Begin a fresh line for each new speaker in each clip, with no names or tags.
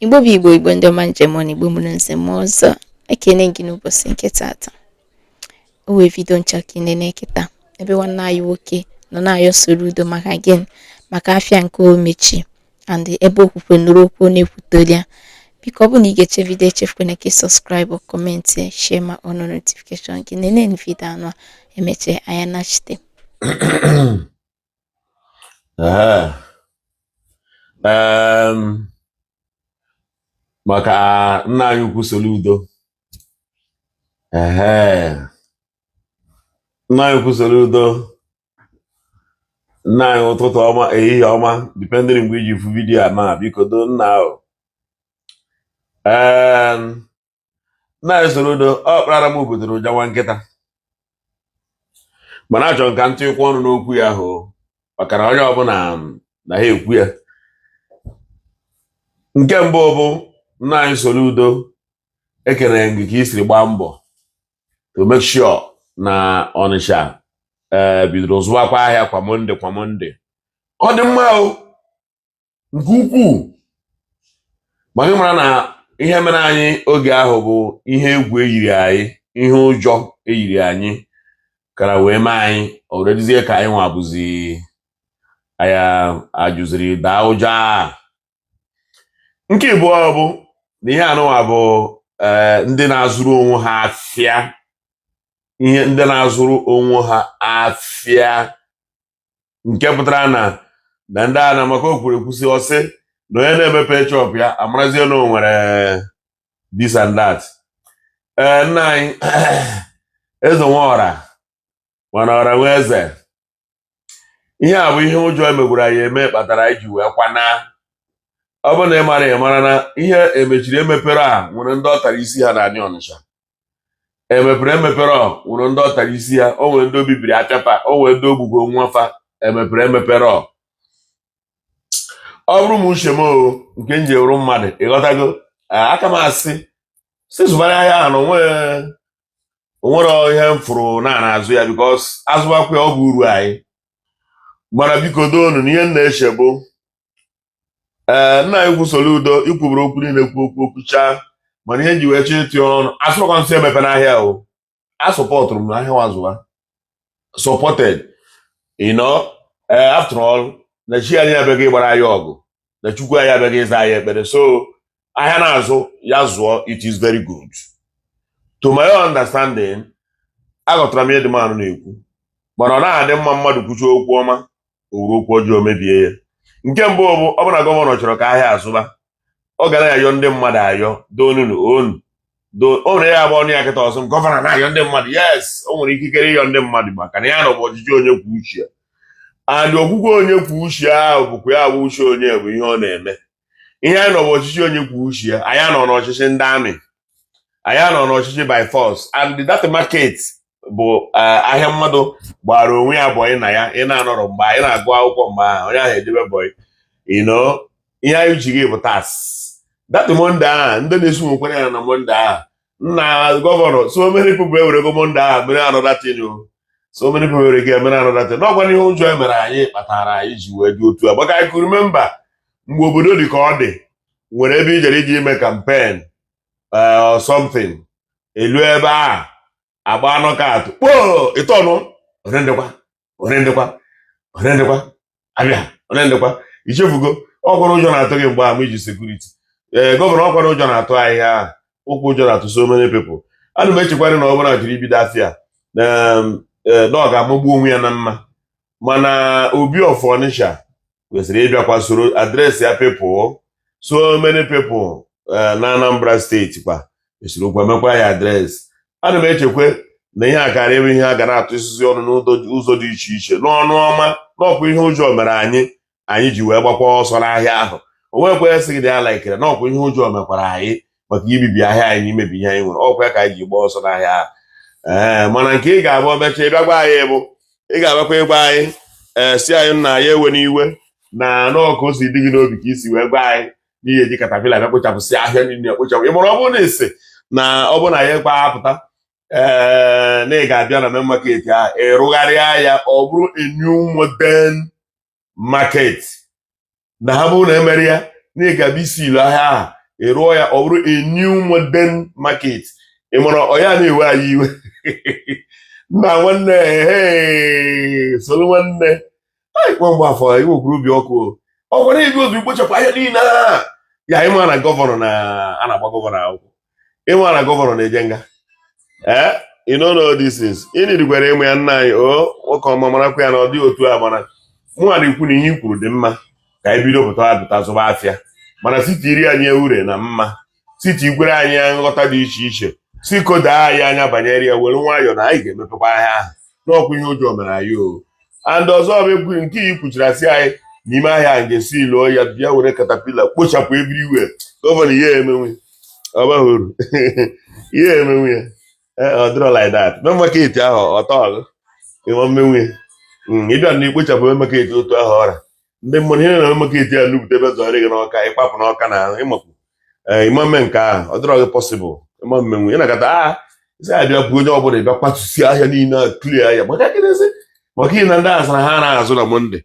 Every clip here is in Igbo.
igbo bụ igbo igbo ndị ọma m ji eme ọnụ igbo mụrụ nze mụọ ọzọ ekene gị n'ụbọchị nke tata o nwee vidio m chọ ka ị nene kịta ebe nwanne anyị nwoke nọ na-ayọ Soludo maka gịnị maka afịa nke o mechi and ebe okwukwe nụrụ okwu ọ na-ekwute olu ya biko ọ bụ na ị gechaa vidio echefukwana ka ị subscribe comment share ma on notification gị nene vidio anụwa e mechaa anyị anachite
maka nna anyị ukwu Soludo nna anyị ukwu Soludo nna anyị ụtụtụ ọma ehihie ọma dependịrị mgbe i ji fụ vidiyo a na biko do nna ahụ Em, nna anyị Soludo ọ kparara m obodo ụja nwa nkịta mana achọrọ m ka m tikwuo ọnụ n'okwu ya ahụ maka na onye ọbụla na ha ekwu ya nke mbụ bụ nna anyị Soludo ekene m gị ka i siri gbaa mbọ to make sure na Ọnịcha ee eh, bidoro zụwakwa ahịa kwa Monday kwa Monday ọ dị mma o nke ukwuu maka ị mara na ihe mere anyị oge ahụ bụ ihe egwu e yiri anyị ihe ụjọ e yiri anyị kara wee mee anyị o wee dịzie ka anyị nwa bụzi aya ajụziri daa ụjọ a nke ịbụọ bụ na ihe anụwa bụ eh, ndị na-azụrụ onwe ha afịa ihe ndị na-azụrụ onwe ha afịa nke pụtara na na ndị a na maka o kwuru ekwu sị ọ sị na onye na-emepe shop ya amarazie na o nwere eh, this and that ee eh, nna anyị eze nwe ọra mana ọra nwe eze ihe a bụ ihe ụjọ emegwuru anyị eme kpatara anyị ji wee kwana ọ bụ na ị mara ị mara na ihe emechiri emepere a nwere ndị ọ tara isi ha na anị ọnịcha emepere emepere ọ nwere ndị ọ tara isi ha o nwere ndị o bibiri afịa fa o nwere ndị o gbugo nwa fa emepere emepere ọ ọ bụrụ m uche m nke m ji wụrụ mmadụ ịghọtago a ka m asị sị zụbara ahịa ahụ na o nwe o nwere ihe m fụrụ n'azụ ya because a zụbakwa ya ọ bụ uru anyị mana biko doonu na ihe m na-eche bụ ee nna anyị ukwu Soludo i kwuburu okwu niile kwu okwu okwuchaa mana ihe m ji wee chọọ ịtụ ọnụ asịrọkwa m sị emepena ahịa o a supportụrụ m n'ahịa wa zụwa supported you know eh, after all na chi anyị abịaghị ịgbara anyị ọgụ na chukwu anyị abịaghị ịza anyị ekpere so ahịa na-azụ ya zụọ it is very good to my own understanding aghọtara m ihe dị mmanụ na-ekwu mana ọ naghị adị mma mmadụ kwuchaa okwu ọma o were okwu ọjọọ mebie ya nke mbụ bụ ọ bụrụ na gọvanọ chọrọ ka ahịa azụba ọ ga na-ayọ ndị mmadụ ayọ donunu onu o nwere onye ga-abụ ọ nụ ya kịta ọ sị m gọvanọ na-ayọ ndị mmadụ yes o nwere ikikere ịyọ ndị mmadụ maka na ihe a nọ bụ ọchịchị onye kwuo uche ya and ọ bụkwa onye kwuo uche ya ahụ bụkwa ya bụ uche onye bụ ihe ọ na-eme ihe anyị nọ bụ ọchịchị onye kwuo uche ya anyị anọghị n'ọchịchị ndị amị anyị anọghị n'ọchịchị by force and that market bụ eh, ahịa mmadụ gbaara onwe ya bọyị na ya ị na-anọrọ mgbe anyị na-agụ akwụkwọ mgbe ahụ onye ahụ ejebe bọyị you know ihe anyị ji gị bụ tax that Monday ahụ ndị na-esi nwekwara ya na Monday ahụ nna gọvanọ so many people ewerego Monday ahụ mere another thing o so many people ewerego ya mere another thing na ọ kwa ihe ụjọ mere anyị kpatara anyị ji wee dị otu a maka I could remember mgbe obodo dị ka ọ dị nwere ebe i jere ije ime campaign eh, or something elu ebe a agbaa knockout kpoo ịtọnụ olee ndịkwa olee ndịkwa olee ndịkwa abịa olee ndịkwa i chefugo ọ kwa na ụjọ na-atụ gị mgbe ahụ i ji security ee eh, gọvanọ ọ kwa na ụjọ na-atụ anyị ọ kwa ụjọ na-atụ so many people ana m echekwarị na ọ bụrụ na e jiri ibido afịa eh, na ọ ga-amagbu onwe ya na mma mana Obi of Onitsha kwesịrị ịbịakwa soro address ya people so many people eh, na Anambra steeti kwesịrịkwa imekwa ya address ana m echekwa na ihe a kara eme ihe a ga na-atụ isizi ọnụ n'ụzọ dị iche iche n'ọnụ ọma na ọ kwa ihe ụjọ mere anyị anyị ji wee gbakwa ọsọ n'ahịa ahụ o nwekwa esighị na ya laikere na ọ kwa ihe ụjọ mekwara anyị maka ibibi ahịa anyị na imebi ihe anyị nwere ọ kwa ya ka anyị ji gbaa ọsọ n'ahịa ahụ ee mana nke ị ga-abụ o mecha ị bịa gwa anyị bụ ị ga-abịakwa ịgwa anyị ee sị anyị na anyị ewela iwe na na ọ ka o si dị gị n'obi ka i si wee gwa anyị na ị ga-eji caterpillar bịa kpochapụsị ahịa niile kpochapụ ị mara ọ bụrụ na ị sị na ọ bụrụ na anyị ekwe apụta ee na ị ga-abịa na main market a ịrụgharịa ya ọ bụrụ a new modern market na ọ bụrụ na emere ya na ị ga-abịa i-seal ahịa ahụ ị rụọ ya ọ bụrụ a new modern market ị mara ọ ya na-ewe anyị iwe nna nwanne ehe Solu nwanne anyị nwa Mgbafọ i wekwuru obi ọkụ ọ gwara ibi obi kpochapụ ahịa niile a ya anyị ma na gọvanọ na a na-agba gọvanọ akwụkwọ ị ma na gọvanọ na-eje nga ee you know all these things ị needikwara ime ya nna anyị o nwoke ọma marakwa ya na ọ dịghị otu a mana mụnwa na-ekwu na ihe i kwuru dị mma ka anyị bido pụta apụta zụba afịa mana site iri anyị ure na mma site ikwere anyị nghọta dị iche iche si kodaa anyị anya banyere ya were nwayọọ na anyị ga-emepekwa ahịa ahụ n'ọkwa ihe ụjọ mere anyị o and ọzọ bụ nke iyi kwuchiri asị anyị n'ime ahịa a ga-esi ilu ya bịa were katapila kpochapụ everywhere gọvanọ i ya-emenwu ọ bụrọ ihe i ya-emenwu ya eh, ọ dịrọ like that main market ahụ ọ tọọ gị ị ma emenwu ya hmm, ịbịa na ikpochapụ main market otu ahụ ọ ra ndị mmadụ ihe na main market ya lupụta ebe zọrọ gị n'Ọka ị gbapụ n'Ọka na ịmapụ eh, ị ma eme nke ahụ ọ dịrọ gị possible ị ma emenwu ị na-akata isi abịa bụ onye ọbụla ịbịa kwatusi ahịa niile a clear ahịa maka gịnịzi maka ihe na ndị ahụ sara ha na-azụ na Monday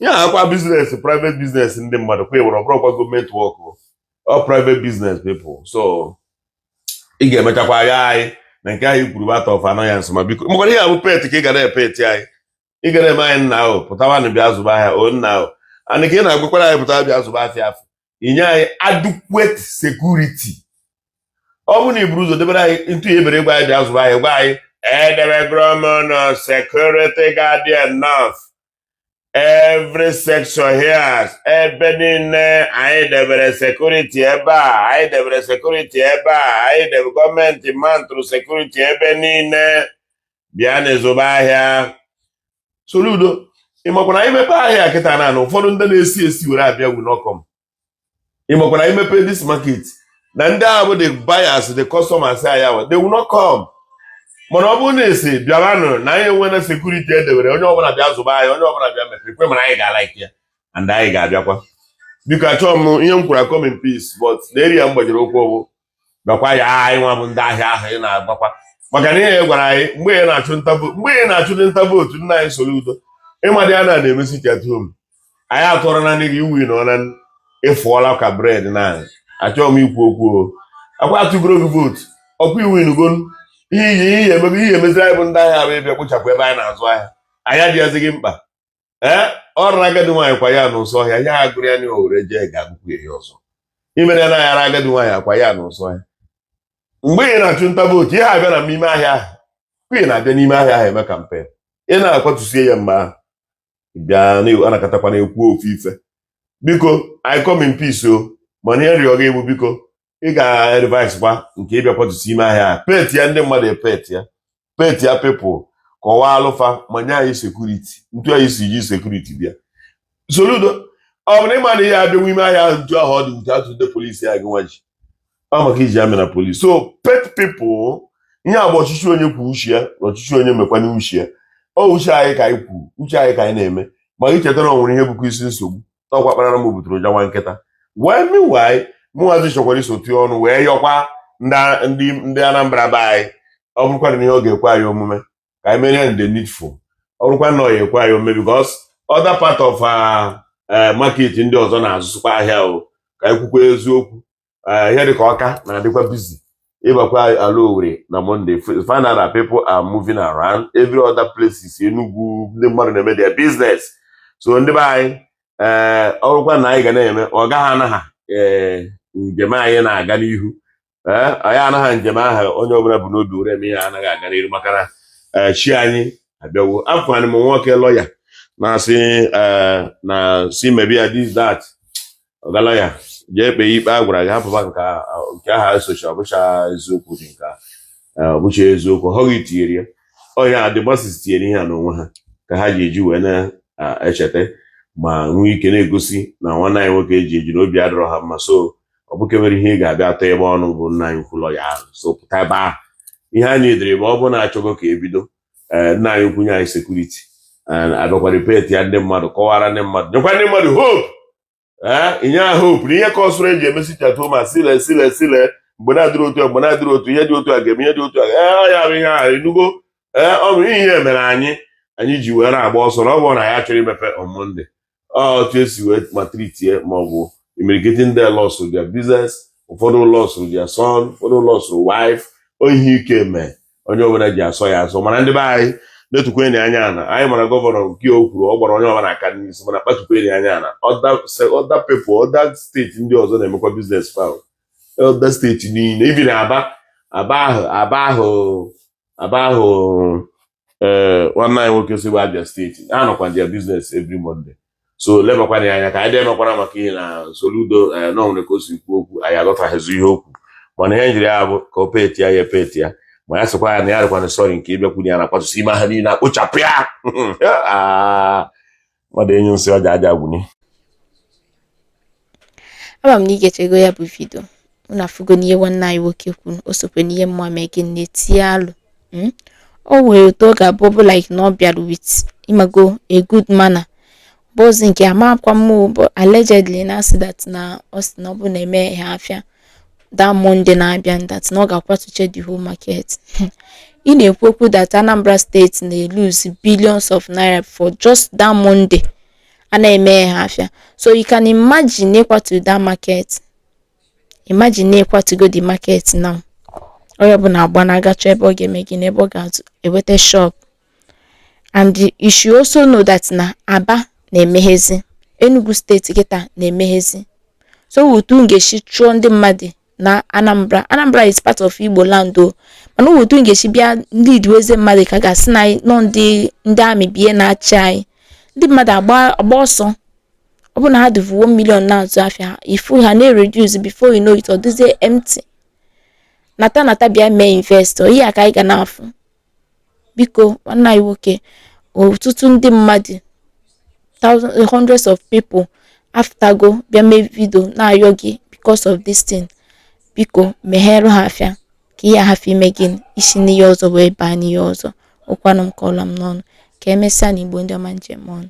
ihe a kwa business private business ndị mmadụ kwa ịwere ọ bụrọkwa gọọmenti work ọ private business people so ị ga-emechakwa ahịa anyị na nke anyị kwuru bụ out of annoyance ma biko maka ihe a bụ pet ka ị ga na-epeti anyị ị ga na-eme anyị nna ahụ pụtawanụ bịa zụba ahịa o nna ahụ and ka ị na-agwakwara anyị pụtawa bịa zụba afịa ahụ i nye anyị adequate security ọ bụrụ na i buru ụzọ debere anyị ntu ya ebere gwa anyị bịa zụba ahịa gwa anyị edebegoro m unu security guard enough every section here ebe niile anyị debere security ebe a anyị debere security ebe a anyị debere gọọmenti mantụrụ security ebe niile bịa na-azụba ahịa Soludo ị makwa na i mepe ahịa kịta na na ụfọdụ ndị na-esi esi were abịa will not come ị makwa na i mepe this market na ndị ahụ bụ the buyers the customers anyị awa they will not come mana ọ bụrụ na a sị bịanụ na anyị enwena security e dewere onye ọbụla bịa zụba ahịa onye ọbụla bịa mepe ekwe mana anyị ga-alike ya and anyị ga-abịakwa biko achọghị m ihe m kwuru I come in peace but na area m gbajiri ụkwụ bụ gwakwa ya anyị nwa bụ ndị ahịa ahụ ị na-agwakwa maka na ị gwara anyị mgbe mgbe ị na-achụ nta vootu nna anyị Soludo ị ma ndị a na na-eme sit at home anyị atụọrọ na n'ihi i win na ọna ị fụọla ka bread na achọghị m ikwu okwu ọkwa atụgoro gị vootu ọkwa i winigo ihe iyi ihe emebe ihe i meziri anyị bụ ndị ahịa bụ ịbịa kpochapụ ebe anyị na-azụ ahịa anyị adịghịzi gị mkpa ee ọ raa agadi nwaanyị kwa ya n'ụsọ ọhịa ihe gụrụ ya na o were jee ga-agụkwu ya ọzọ ihe mere anaghị ara agadi nwaanyị akwa ya n'ụsọ ọhịa mgbe ị na-achụ nta vootu ị na-abịa na n'ime ahịa ahụ mgbe ị na-abịa n'ime ahịa ahụ eme campaign ị na-akwatusie ya mgbe ahụ bịa anakatakwa na-ekwu ofu ife biko I come in peace o mana ihe m rịọ gị bụ biko ị ga-revise kwa nke ịbịa kwatusi ime ahịa a petia ndị mmadụ epet ya petia people kọwaalụ fa ma nye anyị security ntu anyị si ji security bịa Soludo ọ bụrụ ị ma na ị ya-abịanwu ime ahịa ahụ ntu ahụ ọ dị ntu atụ ndị police a gị nwa ji ọ maka i ji army na police so pet people ihe a bụ ọchịchị onye kwuo uche ya na ọchịchị onye mekwanye uche ya ọ uche anyị ka anyị kwuru uche anyị ka anyị na-eme ma anyị chetara o nwere ihe bụkwa isi nsogbu ọkwa kparara m butere ụja nwa nkịta wee meanwhile mụnwazi chọkwara iso tụọ ọnụ wee yọkwa ndị ndị Anambra be anyị ọ bụrụkwa na ihe ọ ga-ekwe anyị omume ka anyị mere ya the needful ọ bụrụkwa na ọ ya ekwe anyị omume because other part of uh, eh, market ndị ọzọ na-azụsịkwa ahịa o ka anyị kwukwa eziokwu eh, ihe dịka Ọka na-adịkwa busy ị bakwa ala Owere na Monday find out people are moving around every other places Enugwu ndị mmadụ na-eme their business so ndị be anyị ee eh, ọrụkwa na anyị ga na-eme ọ gaghị anagha ee eh, njem anyị na-aga n'ihu ee anyị anagha njem ahụ onye ọbụla bu n'obi were eme ihe anaghị aga n'ihu maka na chi anyị abịawo afụkwara m nwoke lọya na-asị eh, na si mebi ya this that ọga lọya jee kpee ikpe a gwara gị hapụba nke aha esocha ọbụcha eziokwu dị nke ọbụcha eziokwu ọ gị tinyere ya ọhịa adịgbasis tinyere ihe a n'onwe ha ka ha ji eji wee na-echeta ma nwee ike na-egosi na nwanne anyị nwoke e ji eji na obi adịrọ ha mma so ọ bụ kemere ihe ị ga-abịa atọ ebe ọnụ bụ nna anyị kwulọ ya ahụ so pụta ebe ahụ ihe anyị edere ma ọ bụ na-achọgo ka ebido eh, nna anyị kwunye anyị security eh, abịakwa ripeti ya ndị mmadụ kọwara ndị mmadụ nyekwa ndị mmadụ hope eh, inye ha hope na ihe ka ọsụrụ eji emesi chatụ ma sile sile sile mgbe na-adịrị otu a mgbe na-adịrị otu ihe dị otu a ga-eme ihe dị otu a ee ya bụ ihe ahụ enugo ee ọ bụ ihe mere anyị anyị ji wee na-agba ọsọ na ọ bụrụ na ya chọrọ imepe on Monday otu esi wee maltreatie ma ọ bụ imirikiti ndị lose their business ụfọdụ lose their son ụfọdụ lose wife ọ ihe ike mee onye ọbụla ji asọ ya asọ mana ndị be anyị netukwanụ anya na anyị mara gọvanọ nke o kwuru ọ gbara onye ọbụla aka n'isi mana kpatukwanụ anya na other people other state ndị ọzọ na-emekwa business fa other state niile even na Aba Aba ahụ Aba ahụ Aba ahụ ee eh, nwanne anyị nwoke si bụ Abia steeti ha nọkwa na their business every Monday so lebakwanụ ya anya ka anyị dịemekwara maka ihe na Soludo eh, na onwere ka o si kwuo okwu anyị aghọtaghịzi ihe o kwu mana ihe njiri ya bụ ka o peti ya ya peti ya ma ya sịkwa ya na ya dịkwanụ sorry nke ịbịa kwu na ya na-akwatusi ime ha niile akpochapụ ya ah. mmadụ enyu nsị ọja aja
gwuni ama m na ị gechego ya bụ vidio unu afụgo n'ihe nwanne anyị nwoke kwuru o sokwe n'ihe mma mee gị na-etinye alụ hmm? o nwere otu ọ ga-abụ bụ like na ọ bịara with ị mago a good manner bụzi nke amakwa m allegedly na-asị that na ọ sị na ọ bụ na emehe afịa that Monday na-abịa that na ọ ga-akwatuche the whole market ị na-ekwu okwu that Anambra steeti na-elose billions of naira for just that Monday a na-emehe afịa so you can imagine ịkwatu that market imagine ịkwatugo the market now onye ọbụla agba na-agachọ ebe ọ ga-eme gị n'ebe ọ ga-enweta shop and you should also know that na Aba na-emeghezi Enugu steeti kịta na-emeghezi so otu m ga-esi chụọ ndị mmadụ na Anambra Anambra is part of Igbo land o mana otu m ga-esi bịa ndị idiweze mmadụ ka a ga-asị na anyị nọ ndị ndị amị bie na-achị anyị ndị mmadụ agba agba ọsọ ọ bụ na ha dịvu 1 million na-azụ afịa ha ị fụ ha na-ereduce before you know it ọ dịzie empty nata nata bịa mee invest ọ ihe a ka anyị ga na-afụ biko nwanne anyị nwoke ọtụtụ ndị mmadụ thousands hundreds of people afụtago bịa mee vidio na-ayọ gị because of this thing biko meghere ha afịa ka ihe a hafụ ime gịnị isi n'ihe ọzọ wee baa n'ihe ọzọ ụkwanụ m kọọla m n'ọnụ ka emesịanụ Igbo ndị ọma m ji eme ọnụ